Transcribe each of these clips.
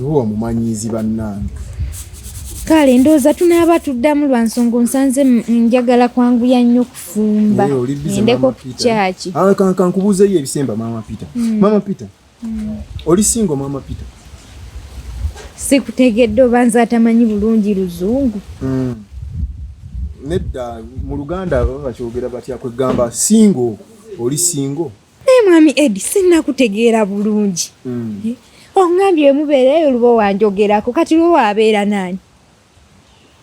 luwa mumanyiizi bannange kale ndowooza tunaaba tuddamu lwa nsonga onsanze njagala kwanguya nnyo kufumba endeko ku kyaki ah, kankubuuzeyo ebisemba maama peter hmm. maama peter hmm. oli singo maama peter sikutegedde oba nze atamanyi bulungi luzungu hmm. nedda mu luganda baba bakyogera batya kwegamba singo oli singo naye mwami edi sinakutegeera bulungi hmm. eh, ongambye emubeereyo luba owanjogerako kati luba wabeera naani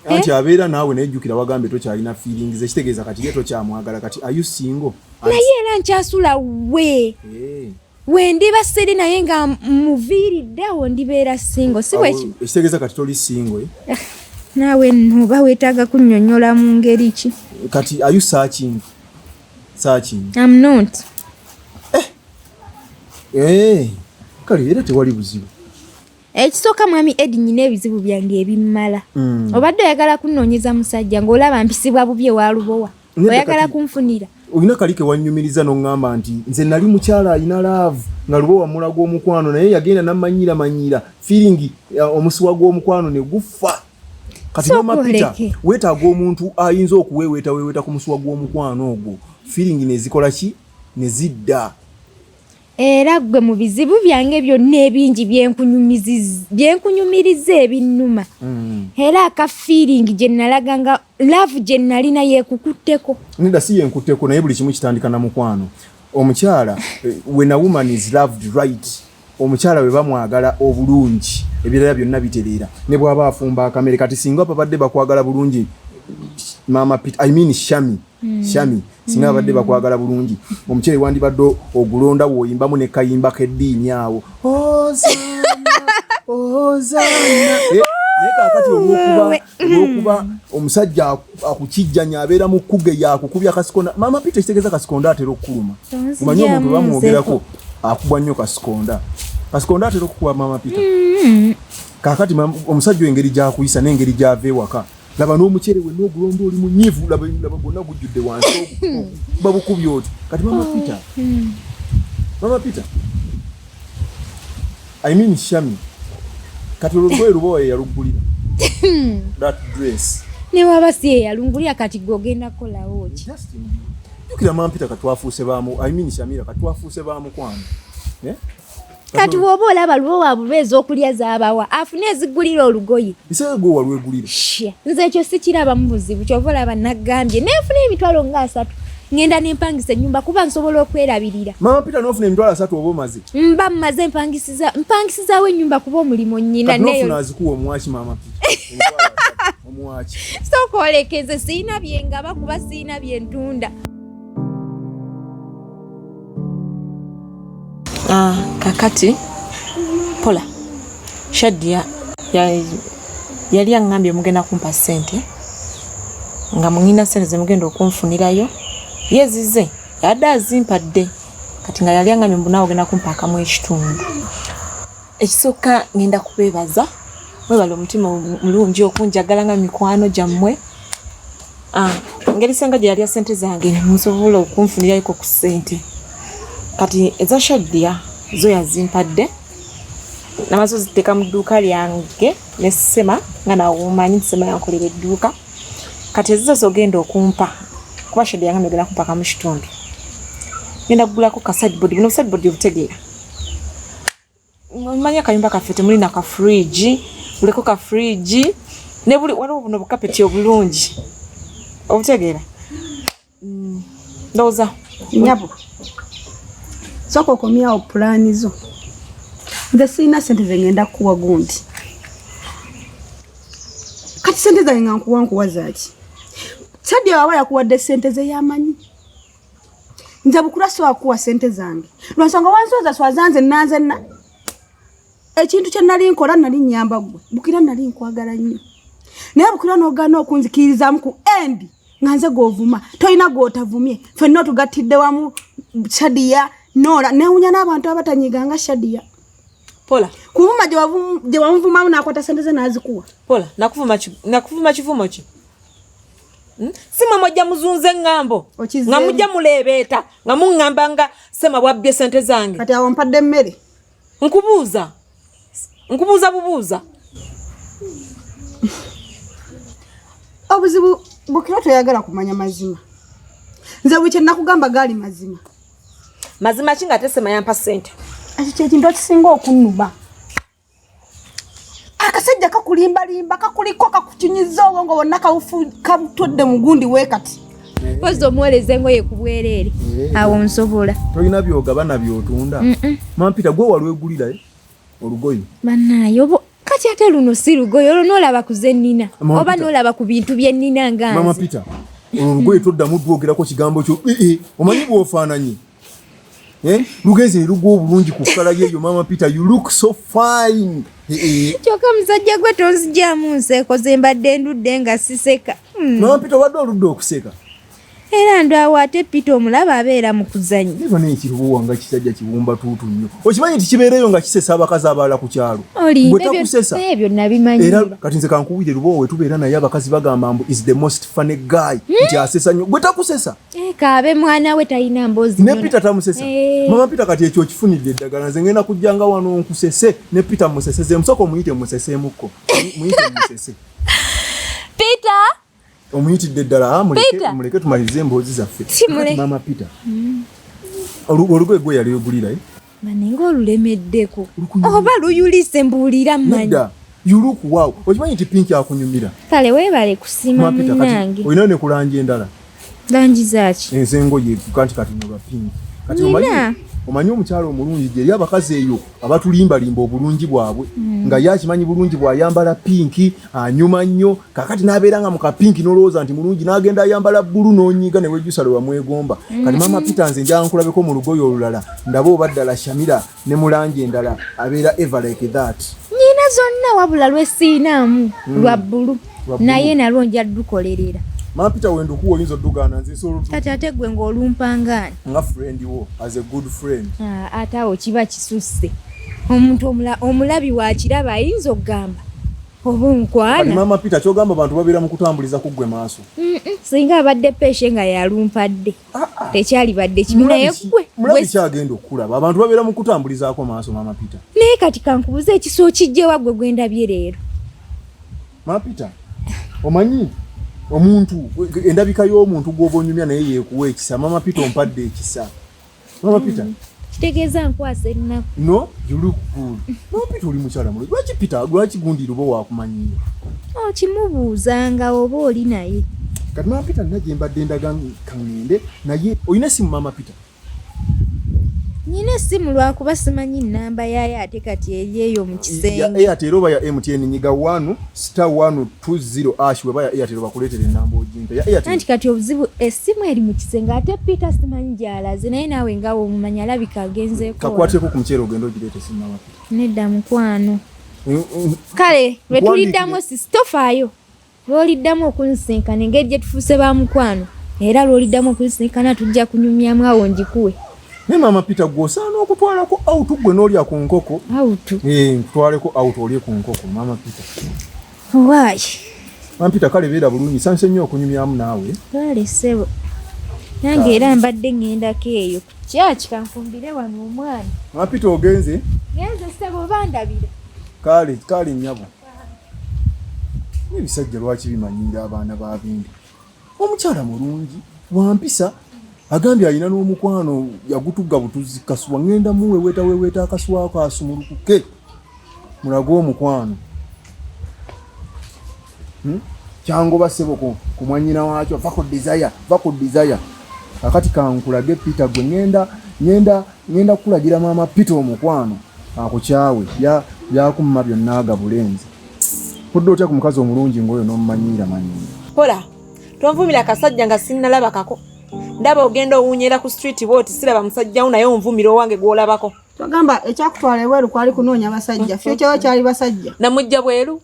anti eh? abeera naawe naye jjukira wagambye tokyalina feelings ekitegeeza kati ye tokyamwagala kati ayu singo naye era nkyasula we eh. wendiba siri naye nga muviiriddewo ndibeera singo siekitegeeza kati toli singo eh? naawe noba wetaaga kunyonyola mu ngeri ki kati ayusa kintu searching. I'm not. Eh. Eh. Kali era tewali buzibu. Ekisooka eh, mwami Edi nyina ebizibu byange ebimmala. Mm. Obadde oyagala kunoonyeza musajja ng'olaba mpisibwa bubye wa lubowa. Oyagala kunfunira. Olina kali ke wannyumiriza n'oŋŋamba nti nze nali mukyala alina laavu nga lubowa mulaga omukwano naye yagenda n'amanyiira manyiira fiiringi eh, omusuwa gw'omukwano ne gufa. kati noma pita wetaaga omuntu ayinza okuweeweeta weeweeta ku musuwa gw'omukwano ogwo firingi nezikola ki nezidda era gwe mu bizibu byange byonna ebingi byenkunyumiriza ebinnuma mm. era aka firingi gye nalaga nga laavu gye nalina yekukutteko neda si yenkutteko naye buli kimu kitandika na mukwano omukyala eh, when a woman is loved right omukyala we bamwagala obulungi ebirala byonna bitereera ne bwaba afumba akamere kati singa babadde bakwagala bulungi mama pit i mean shami mm. shami singa hmm. babadde mm. bakwagala bulungi omukyere wandibadde ogulonda woyimbamu ne kayimba k'eddiini awo ozana ozana eh, naye kakati olwokuba olwokuba omusajja akukijjanya abeera mu kkuge yakukubya kasikonda maama pita ekitegeeza kasikonda atera okukuluma omanye omuntu bamwogerako akubwa nnyo kasikonda kasikonda atera okukuba maama pita mm-hmm. kakati omusajja engeri gyakuyisa n'engeri gyava ewaka laba n'omucere we n'ogulomba oli munyivu laba gwonna gujjudde wansi mm-hmm. babukubya oti kati maama pita mm-hmm. maama pita I mean Shami. Kati olugoye lubowa yeyalugulira. That dress. Ne waba si yeyalungulira kati gwe ogenda kukolawo ki? Jukira mampita katwafuuse baamu. I mean Shamira katwafuuse baamu kwano. Eh? Kati woba olaba lubowa bubeeza okulya zabawa afune ezigulira olugoye. Isee gwe walwegulira. Shia. Nze ekyo sikiraba mu buzibu kyova olaba nagambye. Nefuna emitwalo nga asatu. ngenda nempangisa enyumba kuba nsobola okwerabirira mama pita nofuna emitwalo asatu oba omaze mba mmaze mpangisiza mpangisizawo enyumba kuba omulimu nyina neyoazikuwa omuwaki mama omuwaki sokwolekeze siyina byengaba kuba siyina byentunda Ah, kakati pola shadia yali aŋambye mugenda kumpa sente nga muina sente zemugenda okunfunirayo yezize yadde azimpadde kati nga yali aŋambye mbunawe ogenda kumpa akamu ekitundu ekisooka ngenda kubeebaza mwebale omutima mulungi okunjagala nga mikwano gyammwe Ah, ngeri senga gye yalya sente zange musobola okunfunirayoko ku sente kati eza shaddiya zo yazimpadde namaze oziteeka mu dduuka lyange ne sema nga nawomanyi nti sema yankolera edduuka kati ezizo zogenda okumpa kuba shaddiya nga megenda kumpa kamu kitundu ngenda kugulako kasadibodi buno busadibodi obutegeera manya kayumba kaffe temuli na ka fridge uliko ka fridge ne buli waliwo buno bukapeti obulungi obutegeera mm, ndowooza nyabo soka okomyawo pulaani zo nze sirina sente zengenda kukuwa gundi kati sente zange nga nkuwa nkuwa zaaki sadya waba yakuwadde sente zeyamanyi nze bukula siwa kuwa sente zange lwansonga wansooza swaza nze nanze na ekintu kye nali nkola nali nyamba gwe bukira nali nkwagala nnyo naye bukira n'ogaana okunzikirizamu ku endi nga nze gw'ovuma tolina gw'otavumye fenna otugattidde wamu shadiya noola newunya n'abantu abatanyiga nga shadiya pola kuvuma gye wamuvumamu n'akwata sente ze n'azikuwa pola nakuvuma kivumo ki Hmm? sima mwajja muzunza eŋŋambo nga mujja muleebeeta nga muŋŋamba nga sema bwabbye sente zange kati awo mpadde emmere nkubuuza nkubuuza bubuuza obuzibu bukira toyagala kumanya mazima nze buli kyenakugamba gaali mazima mazima ki nga tesema yampa sente ekyo kyekintu ekisinga okunuma akasajja kakulimbalimba kakuliko kakukinyiza obwongo bonna kabutodde mugundi wekati pozi omuwereza engoye ku bwereere eh. awo nsobola tolina byogabana byotunda mampita gwe walwegulirayo eh? olugoye banaye obo kati ate luno si lugoye olwo nolaba ku zennina oba nolaba ku bintu byennina ngamama pita olwo lugoye toddamu dwogerako kigambo kyo eh, omanyi bwofaananyi Eh? Lugeze lugu obulungi ku kala yeyo mama Peter you look so fine. Eh, eh. Kyoka mzajja gwe tonzija mu nseko zembadde ndudde nga siseka. Hmm. Mama Peter wadde oludde okuseka. Era ndo awate Peter omulaba abeera mu kuzannya. Niba ne kiruwa nga kisajja kibumba tutu nnyo. Okimanyi nti kibeereyo nga kisesa abakazi abala ku kyalo. Gwe takusesa. Ebyo nabimanyi. Era kati nze kankuwire lubo we tubeera naye abakazi bagamba mbu is the most funny guy. Hmm? Nti asesa nnyo. Gwe takusesa. Eh, kaabe mwana we talina mbozi ne Peter tamusesa hey. Eh. mama Peter kati ekyo kifunidde eddagala nze ngenda kujjanga wano nkusese ne Peter musese ze musoko muyite musese muko muyite musese Peter omuyitidde eddala ah, muleke muleke tumalize emboozi zaffe mama Peter mm. olugoye gwe yali yogulira eh? maninga olulemeddeko oba luyulise mbuulira manyi yulukuwawo okimanyi nti pinki akunyumira kale webale kusima munange olinayo ne kulanja endala langi zaaki enzengoye kanti kati nolwa pinki kati omanyi omukyalo omulungi gyeri abakazi eyo abatulimbalimba obulungi bwabwe mm. nga ye akimanyi bulungi bwayambala pinki anyuma ah, nnyo kakati nabeera nga mukapinki nolowooza nti mulungi nagenda ayambala bbulu nonyiiga newejjusa lwe wamwegomba kati mama mm-hmm. peter nze njaa nkulabeko mu lugoye olulala ndaba oba ddala shamira ne mulangi endala abeera ever like that nyina zonna wabula lwesiinaamu mm. lwa bbulu naye nalwo nja dukolerera mama peter wendukuwa oyinza oddugana nzekati ate gwe ngaolumpangaani nga friend wo as a good friend ah, ate awo kiba kisusse omuntu omulabi wakiraba ayinza okugamba oba onkwana maama peter kyogamba abantu babeera mu kutambuliza ku ggwe maaso singa abadde peeshe nga yalumpadde ah, ah. tekyalibadde kibi naye gwe mulabi kyagenda okukulaba abantu babeera mu kutambulizaako maaso maama peter naye kati kankubuza ekisa okijjewa gwe gwendabye leero maama peter omanyi omuntu endabika y'omuntu gw'oba onyumya naye yeekuwa ekisa maama peter ompadde ekisa Mama Peter. Mm. Kitegeeza nkwasa ennaku. No, you look good. Mama Peter oli mukyala mulungi. Lwaki Peter, lwaki gundi lubo wakumanyiyo? Oh, kimubuuzanga oba oli naye. Kati Mama Peter nina gye mbadde ndaga kangende naye olina simu Mama Peter? Nyina essimu lwakuba simanyi nnamba yaayo ate kati eri eyo mu kisenge. Eyo ate era oba ya MTN nyiga wanu sita wanu tuziro ash weba ya Airtel bakuleetera enamba ojimpe ya Airtel nanti kati obuzibu esimu eri mu kisenge ate Peter simanyi gyalaze naye naawe nga womumanya alabika agenzeeko kakwateko ku muceere ogenda ogireeta esimu nawa nedda mukwano mm, mm. kale lwe tuliddamu sisi tofaayo lwoliddamu okunsinkana engeri gye tufuuse ba mukwano era lwoliddamu okunsinkana tujja kunyumyamu awo ngikuwe Naye maama Peter gwe osaana okutwalako out gwe n'olya ku nkoko. Out. Eh, nkutwaleko out olye ku nkoko maama Peter. Why? Maama Peter kale beera bulungi sanse nnyo okunyumyamu naawe. Kale sebo. Nange era mbadde ng'endako eyo. Kyaki kanfumbire wano omwana. Maama Peter ogenze? Genze sebo bandabira. Kale kale nyabo. Ebisajja lwaki bimanyiira abaana ba bindi? omukyala mulungi wampisa agambye alina n'omukwano yagutugga butuzzi kasuwa ŋŋenda muweweeta weweeta akasuwako asumulukuke mulage omukwano hmm? kyangoba seboko ku mwanyina wakyo va ku desire va ku desire akati kankulage peter gwe ŋenda ŋenda ŋenda kukulagira maama peter omukwano akukyawe byakumma byonna agabulenzi Odda otya ku mukazi omulungi ng'oyo n'omumanyiira manyiira? Kola tonvumira kasajja nga sinnalabakako. Ndaba ogenda owunyera ku street bwoti siraba musajja wo naye onvumira owange gw'olabako. Twagamba ekyakutwala ebweru kwali kunoonya basajja. Mm. Fyokyawo kyali basajja. Namujja bweru.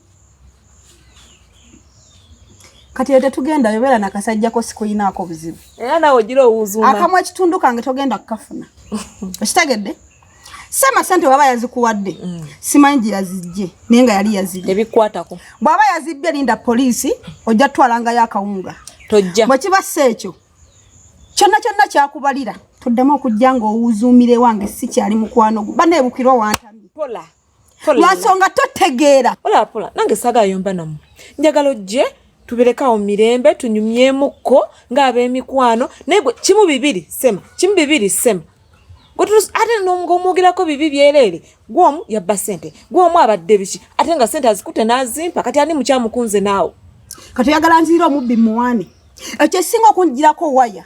Kati ete tugenda yobera na kasajja ko sikuyinaako buzibu. Era nawe ogira owuzuuma. Akamwa ekitundu kange togenda kukafuna. Okitegedde? sema sente baba yazikuwadde mm. simanyi gye yazijje naye nga yali yazijje ebikwatako bwaba yazibbye linda poliisi ojja tutwalangayo akawunga tojja bwe kiba si ekyo kyonna kyonna kyakubalira toddamu okujja ng'owuzuumira ewange si kyali mukwano gwo baneebukirwa wantambi pola lwansonga totegeera olapula nange saga ayomba namu njagala ojje tubirekawo mirembe tunyumyemukko ng'ab'emikwano naye gwe kimu bibiri sema kimu bibiri sema ate ng'omwogerako bibi byereere gwomu yabba sente gwomu abadde biki ate nga sente azikute n'azimpa kati ani mukyamukunze naawe kati oyagala nziire omubbi muwani ekyo esinga okunjirako waya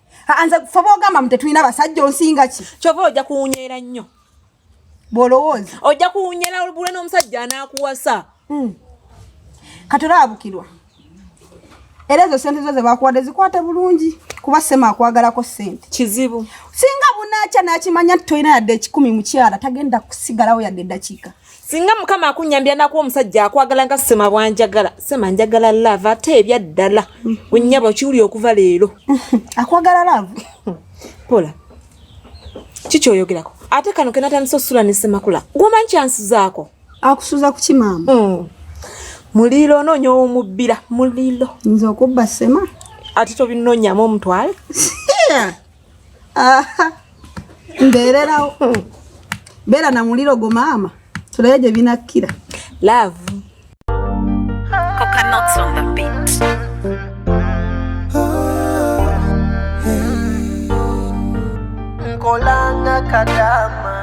anze ffe bogamba mutetulina basajja onsinga ki kyova ojja kuwunyera nnyo bwolowooza ojja kuwunyera olubula n'omusajja anaakuwasa hmm. kati olabukirwa era ezo sente zo zebakuwadde zikwate bulungi kuba sema akwagalako sente kizibu singa bunakya nakimanya nti tolina yadde ekikumi mukyala tagenda kusigalawo yadde eddakiika singa mukama akunyambira nakuwa omusajja akwagala nga sema bwanjagala sema njagala love ate ebyaddala wenyaba okiwuli okuva leero akwagala love pola kikyoyogerako ate kano kenatandisa osula nesemakula gwomanyi kyansuzaako akusuza kukimaama mm. mulilo onoonya owomubbira mulilo nze okubba sema ate tobinonyamu omutwale mbeererawo beera na muliro gwo maama tulabe gye binakkira laavu nkolanga kadama